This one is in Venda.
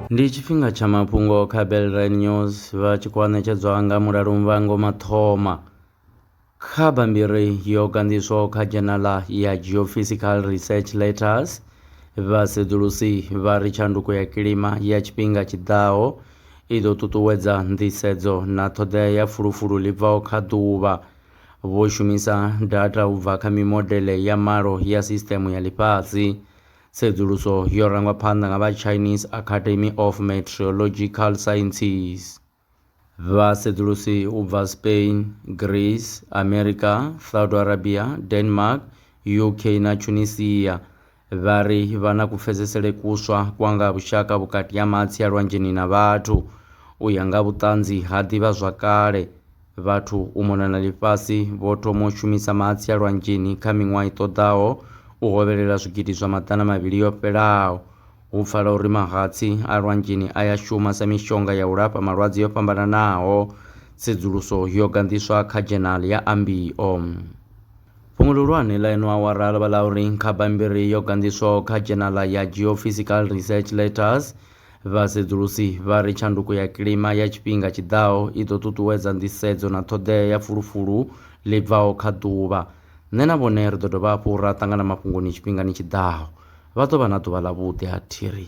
Ndi tshifhinga tsha mafhungo kha Belrain News vha tshi khou ṋetshedzwa nga mulalo muvhango mathoma. Kha bammbiri yo ganḓiswaho kha dzhenala ya Geophysical Research Letters, vhasedzulusi vha ri tshanduko ya kilima ya tshifhinga tshiḓaho i ḓo ṱuṱuwedza nḓisedzo na ṱhoḓea ya fulufulu ḽi bvaho kha ḓuvha. vho shumisa data u bva kha mimodele ya malo ya sisṱeme ya ḽifhasi. Tsedzuluso yo rangwa phanḓa nga vha Chinese Academy of Meteorological Sciences. Vhasedzulusi u bva Spain, Greece, Amerika, Saudi Arabia, Denmark, UK na Tunisia Vha ri vha na kupfesesele kuswa kwa nga ha vhushaka vhukati ha mahatsi a lwanzheni na vhathu. U ya nga vhuṱanzi ha ḓivhazwakale, vhathu u mona na ḽifhasi vho thoma u shumisa mahatsi a lwanzheni kha miṅwaha i ṱoḓaho u hovhelela zwigidi zwa maḓana mavhili yo fhelaho. Hu pfala uri mahatsi a lwanzheni a ya shuma sa mishonga ya u lafha malwadze yo fhambananaho. Tsedzuluso yo ganḓiswa kha dzhenali ya Ambio. Fhungo ḽihulwane ḽa ino awara ḽo vha ḽa uri kha bammbiri yo ganḓiswaho kha dzhenala ya Geophysical Research Letters, vhasedzulusi vha ri tshanduko ya kilima ya tshifhinga tshi ḓaho i ḓo ṱuṱuwedza nḓisedzo na ṱhoḓea ya fulufulu ḽi bvaho kha ḓuvha. Nṋe na vhone ri ḓo dovha hafhu ra ṱangana mafhungoni tshifhingani tshi ḓaho. Vha ḓo vha na ḓuvha ḽavhuḓi, a thi ri.